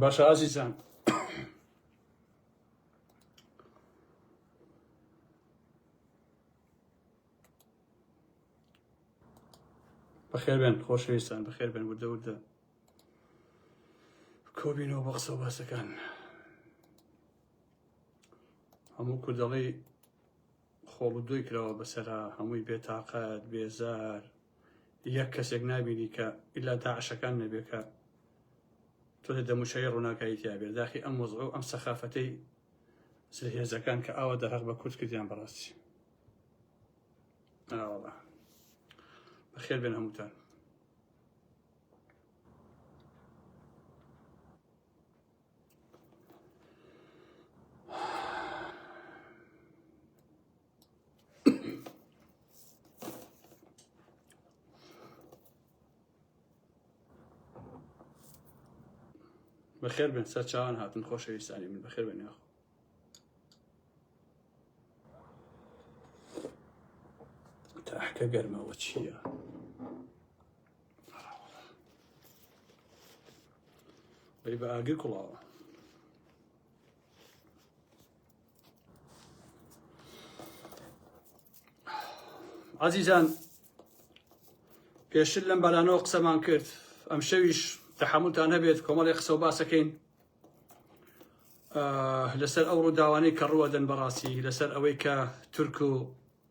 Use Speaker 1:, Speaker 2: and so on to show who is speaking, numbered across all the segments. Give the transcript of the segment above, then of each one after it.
Speaker 1: باشە ئازیزان بەخێربێن خۆشەویستان بەخێربێن وردە وردە کۆبینەوە بە قسە باسەکان هەموو کوردەڵی خۆبدۆی کراوە بەسەرا هەمووی بێ تاقەت بێزار یەک کەسێک نابینی کە ئیلا داعشەکان نەبێ کە تۆ لە دەموچەی ڕووناکایی تیابێت داخی ئەم وەزع و ئەم سەخافەتەی زلهێزەکان کە ئاوا دەرەق بە کورد کردیان بەڕاستی ئاوەڵە بەخێر بێن هەمووتان بەخێر بن سەر چاوان هاتن خۆشەویستانی من بەخێر بن یاخۆ تاحکە گەرمەوە چییە؟ بەی بە ئاگر کوڵاوە ئازیزان پێشتر لەم بەلانەوە قسەمان کرد ئەم شەویش تەحملتان هەبێت کۆمەڵی قسە و باسەکەین لەسەر ئەو ڕووداوانەی کە ڕوەدەن بەڕاستی لەسەر ئەوەی کە تورک و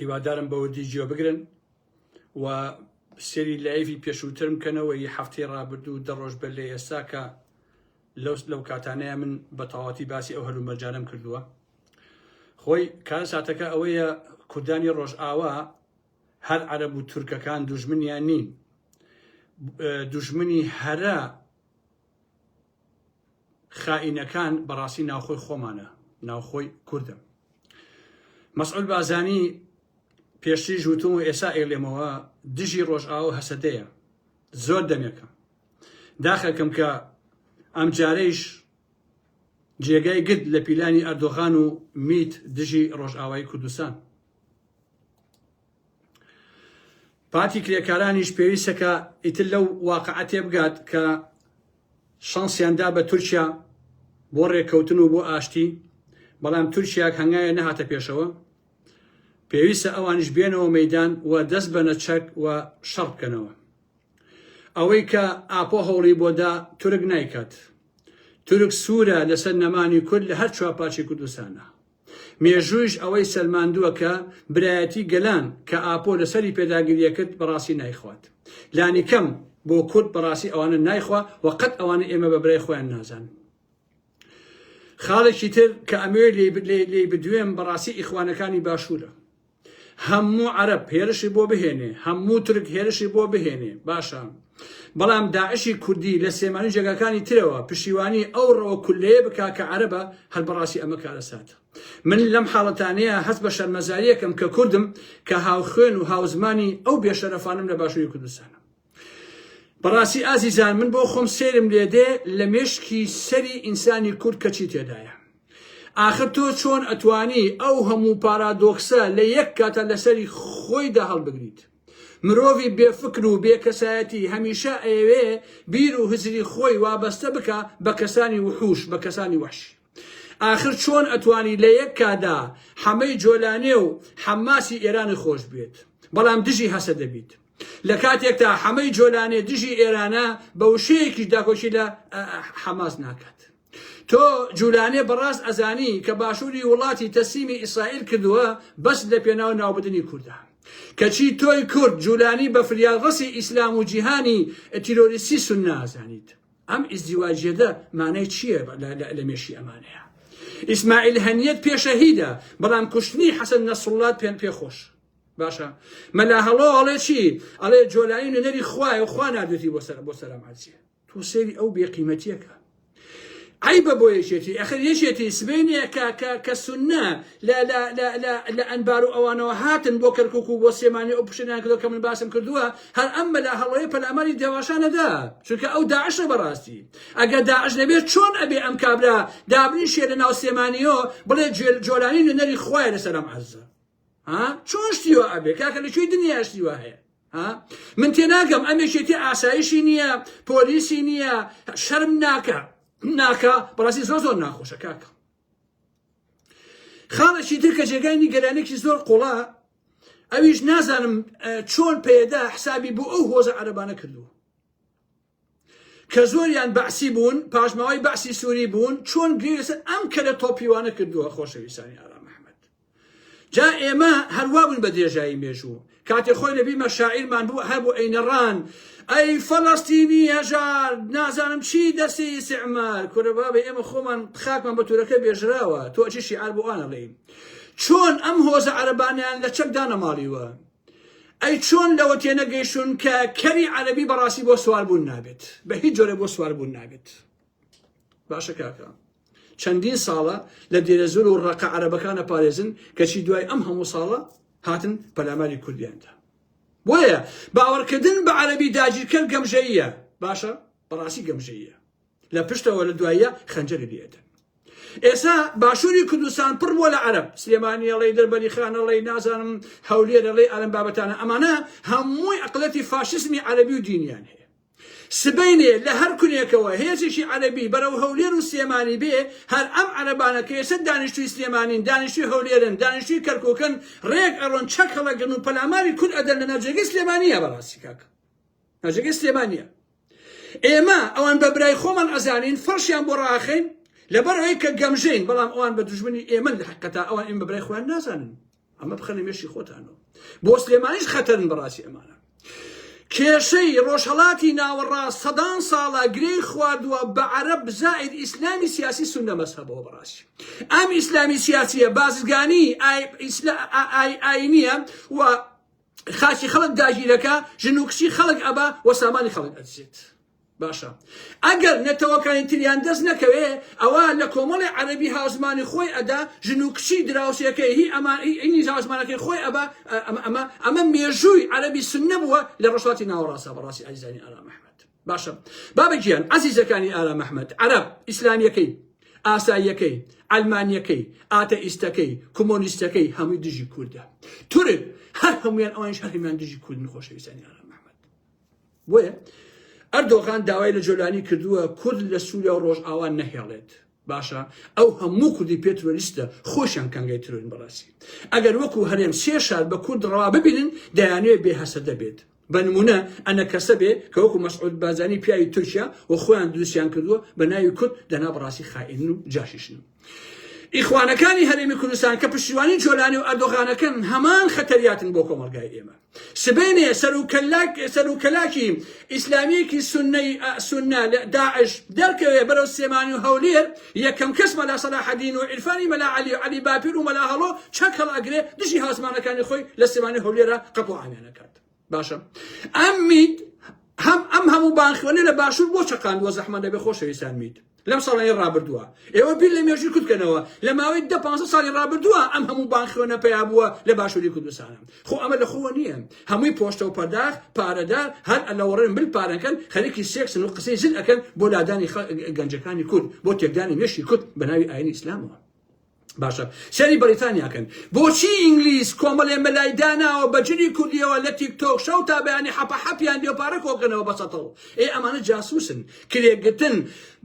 Speaker 1: هیوادارم بە وردی گوێ بگرن و سێری لایڤی پێشووترم کەنەوە ی هەفتەی ڕابردوو دە ڕۆژ بەر لە ئێستا کە لەوس لەو کاتانەیە من بە تەواتی باسی ئەو هەلو مەرجانم کردووە خۆی کار ساتەکە ئەوەیە کوردانی ڕۆژئاوا هەر عەرەب و تورکەکان دوژمنیان نین دوژمنی هەرە خائینەکان بەڕاستی ناوخۆی خۆمانە ناوخۆی کوردم مەسعود بازانی پێشتریش وتم و ئێسا ئێلێمەوە دژی ڕۆژئاو هەسەدەیە زۆر دەمێکە داخەکەم کە ئەم جارەیش جێگای گرت لە پیلانی ئەردۆغان و میت دژی ڕۆژئاوای کوردستان پارتی کرێکارانیش پێویستە کە ئیتر لەو واقعە تێبگات کە شانسیان دا بە تورکیا بۆ ڕێککەوتن و بۆ ئاشتی بەڵام تورکیاک هەنگایە نەهاتە پێشەوە پێویستە ئەوانش بێنەوە مەدان و دەست بە نەچەک و شەڕ بکەنەوە ئەوەی کە ئاپۆ هەوڵی بۆدا تورک نایکات تورک سوورە لەسەر نەمانی کورد لە هەر چوار پارچی کوردستانە مێژوویش ئەوەی سەلماندووە کە برایەتی گەلان کە ئاپۆ لەسەری پێداگریە کرد بەڕاستی نایخوات لانی کەم بۆ کورد بەڕاستی ئەوانە نایخوا و قەت ئەوانە ئێمە بە برای خۆیان نازان خاڵێکی تر کە ئەمەوێت لێی بدوێم بەڕاستی ئیخوانەکانی باشوورە هەموو عەرەب هێرشی بۆ بهێنێ هەموو تورک هێرشی بۆ بهێنێ باشە بەڵام داعشی کوردی لە سێمانی جێگاکانی ترەوە پشیوانی ئەو ڕەوە کولەیە بکا کە عەرەبە هەر بەڕاستی ئەمە کارە ساتە من لەم حاڵەتانەیە هەست بە شەرمەزاریەکەم کە کوردم کە هاوخوێن و هاوزمانی ئەو بێشەرەفانم لە باشووری کوردستانە بەڕاستی ئازیزان من بۆ خۆم سێرم لێدێ لە مێشکی سەری ئینسانی کورد کەچی تێدایە ئاخر تۆ چۆن ئەتوانی ئەو هەموو پارادۆکسە لە یەک کاتە لەسەری خۆیدا هەڵبگریت مرۆڤی بێفکر و بێکەسایەتی هەمیشە ئەیەوێ بیر و هزری خۆی وابەستە بکە بە کەسانی وحوش بە کەسانی وحشی ئاخر چۆن ئەتوانی لە یەک کادا حەمەی جۆلانێ و حەماسی ئێرانت خۆش بوێت بەڵام دژی هەسەدە بیت لە کاتێکتا حەمەی جۆلانێ دژی ئێرانە بە وشەیەکیش داکۆکی لە حەماس ناکات تۆ جولانێ بەڕاست ئەزانی کە باشووری وڵاتی تەسیمی ئیسرائیل کردووە بەس لە پێناو ناوبدنی کوردە کەچی تۆی کورد جولانی بە فریادڕەسی ئیسلام و جیهانی تیرۆریستی سنازانیت ئەم ئیزدیواجیەدە مانای چیە لە مێشی ئەمانەیە ئیسماعیل هەنیەت پێشەهیدە بەڵام کوشتنی حەسەن نەسڵات پێن پێ خۆش باشە مەلا هەڵۆ ئەڵێ چی ئەڵێ جۆلایی نوێنەری خوایە و خوا نادێتی بۆ سەر بۆ سەرم عەرزیە تۆ سێری ئەو بێقیمەتیەکە عیبە بۆ یەکێتی ئەخر یەکێتی سبینێکە کە کە سنە لە لە لە لە لە ئەنبار و ئەوانەوە هاتن بۆ کەرکوک و بۆ سلێمانی و ئەو پشێلیان کردوە کە من باسم کردوە هەر ئەم مەلا هەڵۆیە پەلاماری دەواشان نەدا چونکە ئەو داعشە بەڕاستی ئەگەر داعش نەبێت چۆن ئەبێ ئەم کابرا دابنیشێ لە ناو سلێمانیۆ بڵێ جوێل جۆلانی نوێنەری خوایە لەسەر ئەم عەرزە ها چۆن شتی وا ئەبێ کاکە لە کوێی دنیا شتی وا هەیە ها من تێناگەم ئەم یەکێتی ئاسایشی نییە پۆلیسی نییە شەرم ناکە ناکە بەڕاستی زۆر زۆر ناخۆشە کاکە خاڵێکی تر کە جێگای نیگەرانێکی زۆر قوڵە ئەویش نازانم چۆن پێدا حسابی بۆ ئەو هۆزە عەربانە کردووە کە زۆریان بەعسی بوون پاشماوەی بەعسی سووری بوون چۆن گرێسە ئەم کەرە تۆپیوانە کردووە خۆشەویستانی ئارام مححمد جا ئێمە هەر وا بووین بە درێژایی مێژوو. کاتێ خۆی لە بیرمە شاعیرمان بوو هەر بۆ ئەینەڕان ئەی فەلەستینی هەژار نازانم چی دەسی ئیسعمار کورە بابە ئێمە خۆمان خاکمان بە تورەکە بێژراوە تۆ ئەچی شیعار بۆ ئانەڵێی چۆن ئەم هۆزە عەرەبانیان لە چەک دانەماڵیوە ئەی چۆن لەوە تێنەگەیشتون کە کەری عەرەبی بەڕاستی بۆ سواربوون نابێت بە هیچ جۆرە بۆ سواربوون نابێت باشە کاکە چەندین ساڵە لە دێرەزور و ڕقە عەرەبەکانە پارێزن کەچی دوای ئەم هەموو ساڵە هاتن پەلاماری کوردیاندا بۆیە باوەڕکردن بە عەربی داگیرکەر گەمژەیە باشە بەڕاستی گەمژەیە لە پشتەوە لە دوایە خەنجەری لێدە ئێسا باشووری کوردستان پڕ بۆ لە عەرب سلێمانیەڵی دەربەری خانەڵی نازانم هەولێرەڵی ئەلم بابەتانە ئەمانە هەمووی ئەقلەتی فاشزمی عەربی و دینیان هەیە سبەینێ لە هەر کونێکەوە هێزێکی عەرەبی بەرەو هەولێر و سلێمانی بێ، هەر ئەم عەرەبانە کە ئێستا دانیشتووی سلێمانین، دانیشتووی هەولێرن، دانیشتووی کەرکووکن، رێک ئەڕۆن، چەک هەڵەگرن و پەلاماری کورد ئەدەن لە ناوجەرگەی سلێمانییە بەڕاستی کاک ناوجەرگەی سلێمانییە. ئێمە ئەوان بە برای خۆمان ئەزانین، فەڕشیان بۆ ڕاخەین، لەبەر ئەوەی کە گەمژەین، بەڵام ئەوان بە دوژمنی ئێمەن لە حەقیقەتا، ئەوان ئێمە بە برای خۆیان نازانن. ئەمە بخەنە مێشی خۆتانەوە بۆ سلێمانیش خەتەرن بەڕاستی ئەمانە کێشەی ڕۆژهڵاتی ناوەڕاست سەدان ساڵە گرێی خواردووە بە عەرب بزائید ئیسلامی سیاسی سونە مەسەبەوە بەڕاستی ئەم ئیسلامی سیاسیە بازرگانی ئاینیە و خاچی خەڵک داگیرەکە ژن و کچی خەڵک ئەبا وە سامانی خەڵک ئەدزێت باشە ئەگەر نەتەوەکانی تریان دەست نەکەوێ ئەوا لە کۆمەڵی عەرەبی هاوزمانی خۆی ئەدا ژن و کچی دراوسێکەی هی ئەمان هی ئینی هاوزمانەکەی خۆی ئەبا ئەمە ئەمە ئەمە مێژووی عەرەبی سنە بووە لە ڕۆژهەڵاتی ناوەڕاستە بەڕاستی ئازیزانی ئارام ئەحمەد باشە بابە گیان عەزیزەکانی ئارام ئەحمەد عەرەب ئیسلامیەکەی ئاساییەکەی ئەلمانیەکەی ئاتەئیستەکەی کۆمۆنیستەکەی هەمووی دژی کوردە تورک هەر هەمویان ئەوانش هەرهەمیان دژی کوردن خۆشەویستانی ئارام ئەحمەد بۆیە ئەردۆغان داوای لە جۆلانی کردووە کورد لە سوریا و ڕۆژئاوا نەهێڵێت. باشە ئەو هەموو کوردی پێ ترۆریستە خۆشیان کانگای ترۆرین بەڕاستی ئەگەر وەکو هەرێم سێ شار بە کورد ڕەوا ببینن دەیانوێ بێ هەسەدە بێت بە نمونە ئەنە کەسە بێ کە وەکو مەسعود بازانی پیاوی تورکیا و خۆیان دروستیان کردووە بە ناوی کورد دەنا بەڕاستی خائین و جاشیشن ئیخوانەکانی هەرێمی کوردستان کە پشتیوانی جۆلانی و ئەردۆغانەکەن هەمان خەتەریاتن بۆ کۆمەڵگای ئێمە سبێنێ سەرکەلاکی ئیسلامیەکی سنەی سنە لە داعش دەرکەوێ بەرەو سێمانی و هەولێر یەکەم کەس مەلا سەلاحەدین و عرفانی مەلا علی و علی باپیر و مەلا هەڵۆ چەک هەڵ ئەگرێ دژی هاسمانەکانی خۆی لە سێمانی هەولێرە قەپۆ ئامێنەکات باشە ئەم میت هەم ئەم هەموو بانخوێنە لە باشوور بۆ چەقاندووە زەحمەت دەبێ خۆشەویستان میت لەم ساڵانی ڕابردووە ئێوە بیر لە مێژوی کوردکەنەوە لە ماوەی دە پ ساڵی ڕابردووە ئەم هەموو بانخوێنە پیا بووە لە باشووری کوردستانم خۆ ئەمە لە خۆوە نییە هەمووی پۆشتە و پەرداخ پارەدار هەر ئەلەوەڕێن بل پارەکەن خەریکی سێکسن و قسەی زل ئەەکەن بۆ لادانی گەنجەکانی کورد بۆ تێکدانی مێشی کورد بە ناوی ئاینی ئیسلامەوە باشە سەری بەریتانیا کەن بۆچی ئینگلیز کۆمەلێ مەلای داناوە بە جلی کوردیەوە لە تیک تۆک شەو تا بەیانی حەپە حەپیان دێ پارە کۆکەنەوە بە سەتەوە ئێ ئەمانە جاسوسن کرێگرتن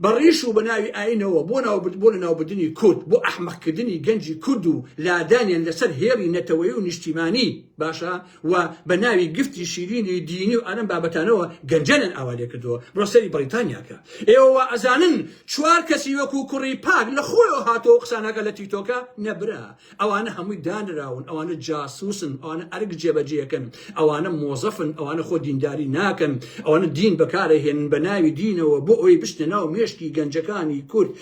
Speaker 1: بە ڕیش و بە ناوی ئاینەوە بۆ ناو بۆ لە ناوبردنی کورد بۆ ئەحمەقکردنی گەنجی کورد و لادانیان لەسەر هێڵی نەتەوەی و نیشتیمانی باشە و بە ناوی گفتی شیرینی دینی و ئەرم بابەتانەوە گەنجانیان ئاوا لێکردووە بڕۆ سەیری بەڕیتانیا کە ئێوە وا ئەزانن چوار کەسی وەکو کوڕی پاک لە خۆیەوە هاتووە و قساناکە لە تیکتۆکە نەبرا ئەوانە هەمووی دانراون ئەوانە جاسوسن ئەوانە ئەرک جێبەجێکەن ئەوانە مۆزەفن ئەوانە خۆ دینداری ناکەن ئەوانە دین بەکارەهێنن بە ناوی دینەوە بۆ ئەوەی بشتە ناو مێشکی گەنجەکانی کورد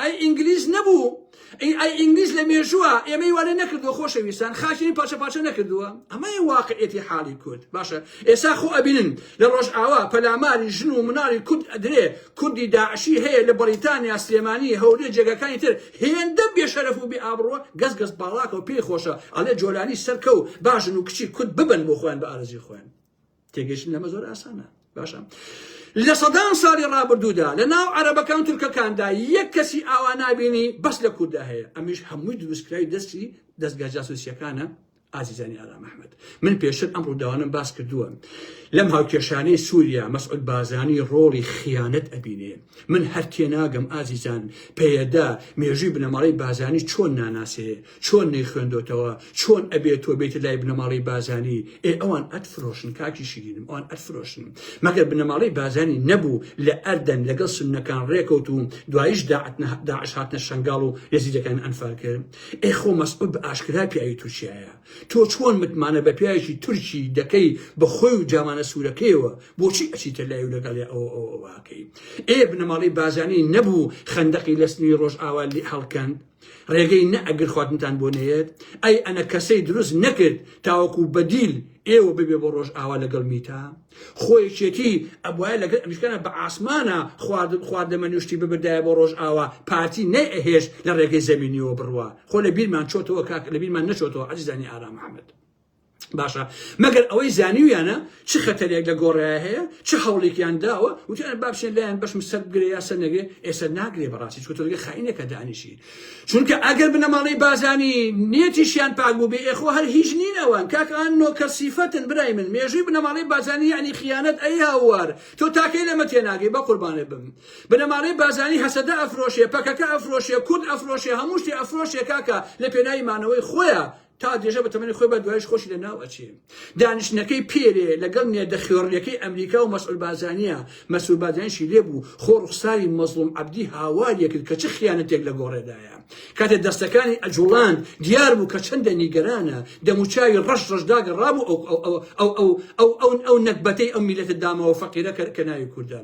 Speaker 1: ئەی ئینگلیز نەبوو ئەی ئەی ئینگلیز لە مێژووە ئێمەی وانە نەکردووە خۆشەویستان خاچنی پاچە پاچە نەکردووە ئەمەی واقعێتی حاڵی کورد باشە ئێسا خۆ ئەبینن لە ڕۆژئاوا پەلاماری ژن و مناڵی کورد ئەدرێ کوردی داعشی هەیە لە بەریتانیا سلێمانی هەولێ جێگەکانی تر هێندە بێشەرەف و بێ ئابڕوە گەز گەز باڵاکە و پێی خۆشە ئەڵێ جۆلانی سەرکە و باژن و کچی کورد ببن بۆ خۆیان بە ئارزی خۆیان تێگەشتن لەمە زۆر ئاسانە باشە لە سەدان ساڵی ڕابردوودا لە ناو عەرەبەکان تورکەکاندا یەک کەسی ئاوا نابینی بەس لە کووردا هەیە ئەمیش هەمووی دروستکراوی دەستی دەستگا جاسوسیەکانە ئازیزانی ئارام ئەحمد من پێشتر ئەم ڕووداوانم باس کردووە لەم هاوکێشانەی سووریا مەسعود بازانی ڕۆڵی خیانەت ئەبینێ من هەر تێناگەم ئازیزان پێدا مێژووی بنەماڵی بازانی چۆن ناناسێ چۆن نەیخوێندۆتەوە چۆن ئەبێ تۆ بێتە لای بنەماڵەی بازانی ئێ ئەوان ئەت فرۆشن کاکی شیرینم ئەوان ئەت فرۆشن مەگەر بنەماڵەی بازانی نەبوو لە ئەردەن لەگەڵ سنەکان ڕێکەوت و دوایش داعش هاتنە شنگاڵ و یەزیدەکان ئەنفال کرد ئێ خۆ مەسعود بە ئاشکرا پیاوی تورکیایە تۆ چۆن متمانە بە پیاوێکی تورکی دەکەی بە خۆی و جامانە سوورەکەیەوە بۆچی ئەچیتە لای و لەگەڵ ئەوە ئەوەکەی ئێ بنەماڵەی بازانی نەبوو خەندەقی لە سنووری ڕۆژئاوا لێ هەڵکەند ڕێگەی نە ئەگر خواردنتان بۆ نەیەت ئەی ئەنە کەسەی دروست نەکرد تاوەکو بەدیل ئێوە ببێ بۆ ڕۆژ ئاوا لەگەڵ میتا خۆیشێتی ئەبواە لەگەر ئەمیشکانە بە ئاسمانە خواردن خواردەمە نوشتی ببدایە بۆ ڕۆژ ئاوا پارتی نەی ئەهێش لە ڕێگەی زەمینیەوە بڕوە خۆ لە بیرمان چۆتەوە کاک لە بیرمان نەچۆتەوە عزیزانی ئارام محەممەد باشە مەگەر ئەوەی زانیویانە چ خەتەرێک لە گۆڕێ هەیە چ هەوڵێکیان داوە وتیان با بچێن لایەن بەشم سەر بگرێ یا سەر نەگرێ ئێستا ناگرێ بەڕاستی چکە تۆگە خاینێکە دانیشی چونکە ئەگەر بنەماڵەی بازانی نێتیشیان پاک بوو بێ ئێخۆ هەر هیچ نین ئەوان کاکان نۆکەر سیفەتن برای من مێژووی بنەماڵەی بازانی یعنی خیانەت ئەی هاوار تۆ تاکەی لەمە تێناگەی بە قوربانێ بم بنەماڵەی بازانی هەسەدە ئەفرۆشێ پەکەکە ئەفرۆشێ کورد ئەفرۆشێ هەموو شتێ ئەفرۆشێ کاکە لە پێناوی مانەوەی خۆیان تا درێژە بە تەمەنی خۆی بە دوایش خۆشی لە ناو ئەچێ دانیشتنەکەی پێرێ لەگەڵ نێردە خوێڕیەکەی ئەمریکا و مەسعول بازانیە مەسول بازانشی لێبوو خۆ ڕوخساری مەزڵوم عەبدی هاوارە کرد کە چ خیانەتێک لە گۆڕێدایە کاتێ دەستەکانی ئەجوڵان دیار بوو کە چەندە نیگەرانە دەموچاوی ڕەش ڕەشداگە ڕابوو ئەو ئەو ئەو ئەو ئەو ئەو ئەو نەکبەتەی ئەو میلەتە داماوە فەقیرە کە ناوی کوردە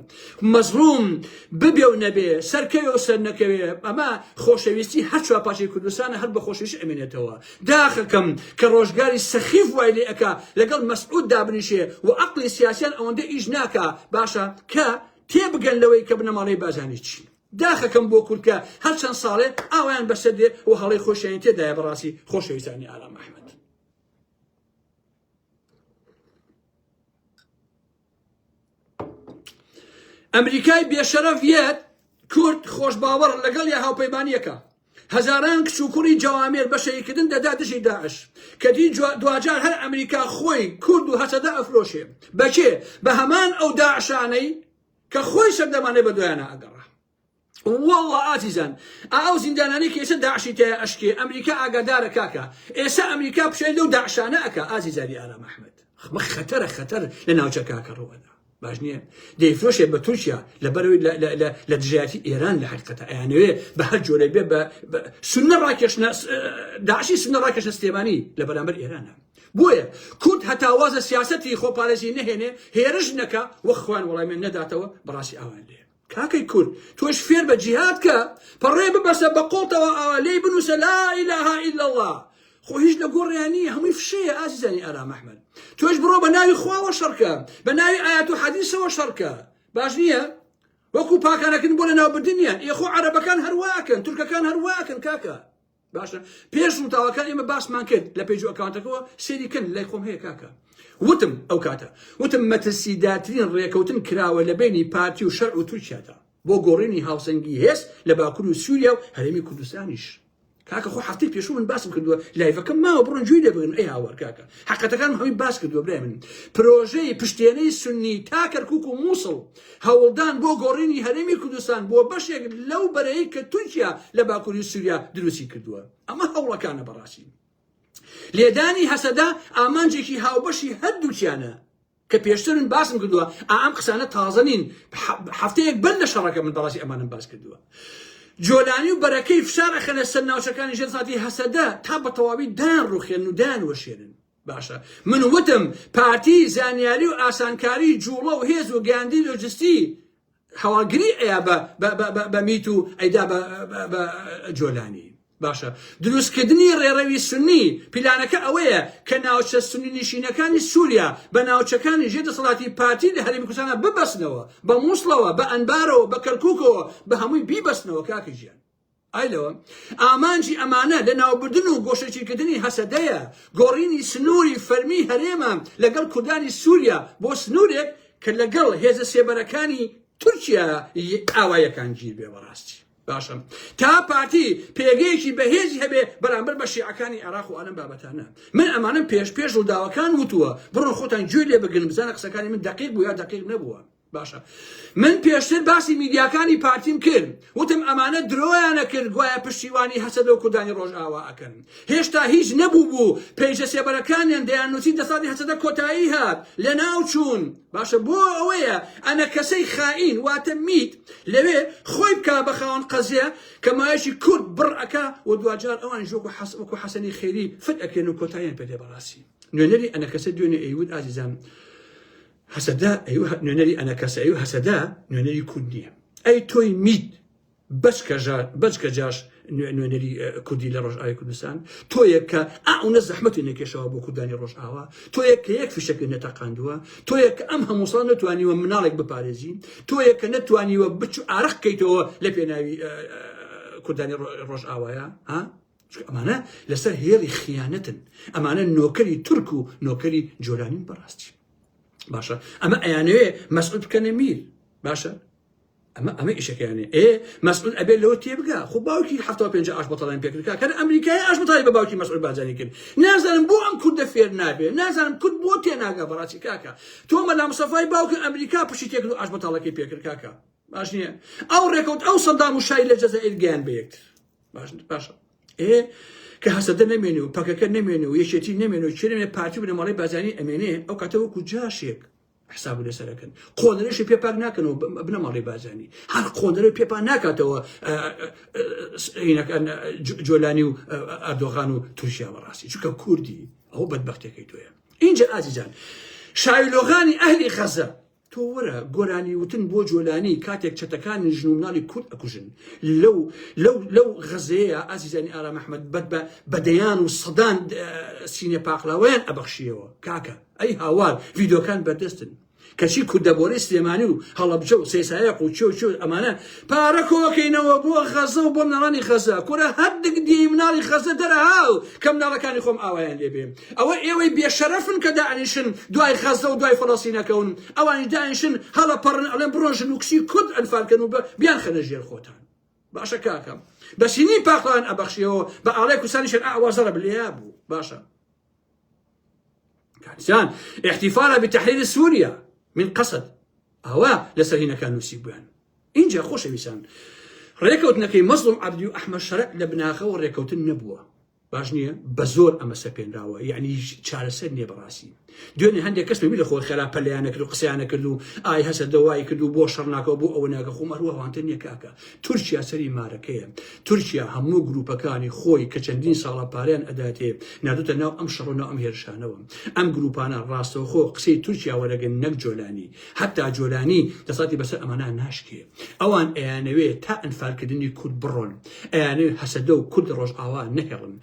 Speaker 1: مەزڵوم ببێ و نەبێ، سەرکەوێ و سەرنەکەوێ، ئەمە خۆشەویستی هەر چوار پارچەی کوردستانە، هەر بە خۆشەویستی ئەمێنێتەوە. داخەکەم کە ڕۆژگاری سەخیف وای لێ ئەکا لەگەڵ مەسعود دابنیشێ و عەقڵی سیاسیان ئەوەندە ئیش ناکا، باشە کە تێبگەن لەوەی کە بنەماڵەی بارزانی چین. داخەکەم بۆ کورد کە هەر چەند ساڵێ ئاوایان بەسەر دێ و هەڵەی خۆشیانی تێدایە بەڕاستی خۆشەویستانی ئارام ئەحمەد. ئەمریکای بێشەرەف یەت کورد خۆشباوەڕ لەگەڵ یا هاوپەیمانیەکە هەزاران کچ و کوڕی جەوامێر بەشەیکردن دەدا دژی داعش کە دی دواجار هەر ئەمریکا خۆی کورد و هەسەدە ئەفرۆشێ بەکێ بە هەمان ئەو داعشانەی کە خۆی سەردەمانێ بە دوایانە ئەگەڕا وەڵا ئازیزان ئاو زیندانانەی کە ئێسە داعشی تێیا ئەشکێ ئەمریکا ئاگادارە کاکە ئێسە ئەمریکا پشێل لەو داعشانە ئەکا ئازیزانی ئارام ئەحمەد خمە خەتەرە خەتەر لە ناوچە کاکە ڕەوەدا باش نییە دەیفرۆشێ بە تورکیا لە بەرەوەی لە دژایەتی ئێران لە حقیقەتە ئەیانوێ بە هەر جۆرە بێ بە سنە ڕاکێشنە داعشی سنە ڕاکێشە سلێمانی لە بەرامبەر ئێرانە بۆیە کورد هەتاوازە سیاستی خۆپارێزی نەهێنێ هێرش نەکە وەخوان وەڵامی نەداتەوە بەڕاستی ئاوان لێ کاکەی کورد تۆش فێربە جیهاد کە پەڕێ ببەسە بەقۆڵتەوە ئاوا لێی بنووسە لا اله الا اللە خۆ هیچ لە گۆڕیان نییە هەمووی فشەیە ئازیزانی ئارام ئەحمەد تۆش بڕۆ بە ناوی خواوە شەڕکە بە ناوی ئايات و حەدیسەوە شەڕکە باش نییە وەکو پاکانەکن بۆ لە ناوبردنیان ئێخۆ عەرەبەکان هەرواکەن تورکەکان هەرواکەن کاکە باشە پێش وتاوەکان ئێمە باسمان کرد لە پێج ئەکاونتەکەەوە سێری کەن لای خۆم هەیە کاکە وتم ئەو کاتە وتم مەترسیداترین ڕێکەوتن کراوە لە بینی پارتی و شەر و تورکیادا بۆ گۆڕینی هاوسەنگی هێز لە باکور و سووریا و هەرێمی کوردستانیش کاکە خۆ هەفتەی پێشوو من باسم کردووە لایڤەکە ماوە بڕۆن جوێی لێ بگرن ئەی هاوار کاکە حەقەتەکان هەمی باس کردووە برای من پرۆژەی پشتێنەی سنی تا کەرکک و مووسڵ هەوڵدان بۆ گۆڕینی هەرێمی کوردستان بۆ بەشێک لەو بەرەی کە تورکیا لە باکوری سوریا دروستی کردووە ئەمە هەوڵەکانە بەڕاستی لێدانی هەسەدە ئامانجێکی هاوبەشی هەردووکیانە کە پێشترن باسم کردووە ئام قسانە تازە نین هەفتەیەک بەر لە شەڕەکە من بەڕاستی ئەمانم باس کردووە جۆلانی و بەرەکەی فشارەخەنە سەر ناوچەکانی ژێرساتی هەسەدە تا بە تەواوی دان ڕوخێن و دان وەشێنن باشە من وتم پارتی زانیاری و ئاسانکاری جوڵە و هێز و گەاندی لۆجستی هەواڵگری ئەیا بە میت و ئەیدا بە جۆلانی باشە دروستکردنی ڕێڕەوی سنی پیلانەکە ئەوەیە کە ناوچە سنی نشینەکانی سووریا بە ناوچەکانی ژێ دەسەڵاتی پارتی لە هەرمی کوردستانە ببەستنەوە بە مووسڵەوە بە ئەنبارەوە بە کەرکووکەوە بە هەمووی بیبەستنەوە کاکە ژیان ئایلۆ، ئامانجی ئەمانە لەناوبردن و گۆشەگیرکردنی هەسەدەیە، گۆڕینی سنووری فەرمیی هەرێمە لەگەڵ کوردانی سووریا بۆ سنوورێک کە لەگەڵ هێزە سێبەرەکانی تورکیای ئاواییەکان گیر بێ بەڕاستی باشە تا پارتی پێگەیەکی بەهێزی هەبێ بەرامبەر بە شیعەکانی عێراق و ئەلم بابەتانە من ئەمانم پێش پێش ڕووداوەکان وتووە بڕۆن خۆتان گوێ لێ بگرن بزانە قسەکانی من دقیق بوو یا دقیق نەبووە باشە من پێشتر باسی میدیاکانی پارتیم کرد وتم ئەمانە درۆیانە کرد گوایە پشتیوانی هەسەدە و کوردانی ڕۆژئاوا ئەکەن هێشتا هیچ نەبوو بوو پێیجە سێبەرەکانیان دەیان نووسی دەسەڵاتی هەسەدە کۆتایی هات لە ناو چوون باشە بۆ ئەوەیە ئەنە کەسەی خائین واتە میت لەوێ خۆی بکە بە خاوەن قەزیە کە مایەشی کورد بڕ ئەکا و دواجار ئەوان ژۆک و حەسەک و حەسەنی خێری فت ئەکرێن و کۆتاییان پێ دێ بەڕاستی نوێنەری ئەنە کەسە دوێنێ ئەیوت ئازیزان هەسەدە ئەیوه نوێنەری ئەنەکەسە ئەیوه هەسەدە نوێنەری کورد نییە ئەی تۆی میت بەچکە ژار بەچکە جاش نوێنەری کوردی لە ڕۆژئاوی کوردستان تۆ یەک کە ئەونە زەحمەتی نەکێشەوە بۆ کوردانی ڕۆژئاوا تۆ یەک کە یەک فشەکە نەتەقاندووە تۆ یەک ئەم هەمووسان نتوانیوە مناڵێک بپارێزی تۆ یەک کە نەتوانیوە بچ ئارەق کەیتەوە لە پێناوی کوردانی ڕۆژئاوایە ها چونکە ئەمانە لەسەر هێڵی خیانەتن ئەمانە نۆکەری تورک و نۆکەری جۆرانین بەڕاستی باشە ئەمە ئەیانەوێ مەسعود بکەنە میر باشە ئەمە ئەمە ئیشەکەیانێ ئێ مەسعود ئەبێ لەو تێبگا خۆ باوکی ه پێنج ئاش بەتەڵیان پێکرکا کە ئەمریکای ئاش بەتای بە باوکی مەسعود بازانی کرد نازانم بۆ ئەم کوردە فێر نابێ نازانم کورد بۆ تێناگا بەڕاستی کاکە تۆ مەلام سەفای باوکی ئەمریکا پشتی تێکرد و ئاش بەتاڵەکەی پێکرد کاکە باش نییە ئەو ڕێکەوت ئەو سەدام و شای لە جەزائیر گەیان بە یەکتر باش باش ئێ کە هەسەدە نەمێنێ و پەکەکە نەمێنێ و یەکێتی نەمێنێ و چێنێ پارتی بنەماڵی بازانی ئەمێنێ ئەو کاتەوە کو جاشێک حساب لەسەرەکەن قۆنەرەشی پێپاک ناکەنەوە بنەماڵی بازانی هەر قۆنەرە پێپان ناکاتەوە جۆلانی و ئەردۆغان و تورکیا بەڕاستی چونکە کوردی ئەو بەدبختەکەی تۆە اینجا ئازیزان شاویلۆغانی ئەهلی خەزە تۆ وەرە گۆرانی وتن بۆ جۆلانی کاتێک چەتەکان ژن و مناڵی کورد ئەکوژن لەو لەو لەو غەزەیە ئازیزانی ئارام ئەحمەد بەد بە بەدەیان و سەدان سینە پاقلاوەیان ئەبەخشیەوە کاکە ئەی هاوار ڤیدۆکان بەردەستن کەچی کوردەبۆرەی سلێمانی و هەڵەبجە و سێسایە قوچۆ چۆ ئەمانە پارە کۆکەینەوە بۆ غەزە و بۆ مناڵانی غەزە کورە هەردگ دی مناڵی خەزە دەرە هاو کە مناڵەکانی خۆم ئاوایان لێبێ ئەوە ئێوەی بێشەرەفن کە داعشن دوای خەزە و دوای فەڵەسینەکەون ئەوانی داعشن هەڵە پەڕن ئەڵێن بڕۆژن و کچی کورد ئەنفالکەن و بە بیان خەنە ژێر خۆتان باشە کاکەم بەسینی پاقلان ئەبەخشیەوە بە ئاڵای کوسانی شەر ئاوازەڕە بلێ بوو باشە کاکسان احتفالا بتحریر سوریا من قەسد ئەوە لەسەر هینەکان نووسی بوویان اینجا خۆشەویستان ڕێکەوتنەکەی مەزڵم عبدی و ئەحمە شەرع لە بناخەوە ڕێکەوتن نەبووە باش نییە بە زۆر ئەمە سەپێنراوە یعنی چارەسەر نییە بەڕاستی دوێنێ هەندێک کەس ببی لە خۆر خێرا پەلیانەکرد و قسەیانە کرد و ئای هەسە دەوای کرد و بۆ شەڕناکەەوە بۆ ئەوە ناگە خۆمەروەوانتە نییە کاکە تورکیا سەری مارەکەیە تورکیا هەموو گروپەکانی خۆی کە چەندین ساڵە پاریان ئەداتێ نادوتە ناو ئەم شەڕ ناو ئەم هێرشانەوە ئەم گروپانە ڕاستەوخۆ قسەی تورکیا وەرەگەن نەک جۆلانی حتا جۆلانی دەساتی بەسەر ئەمانە ناشکێ ئەوان ئەیانەوێ تا ئەنفالکردنی کورد بڕۆن ئەیانێ هەسەدە و کورد ڕۆژ ئاوا نەهێڵن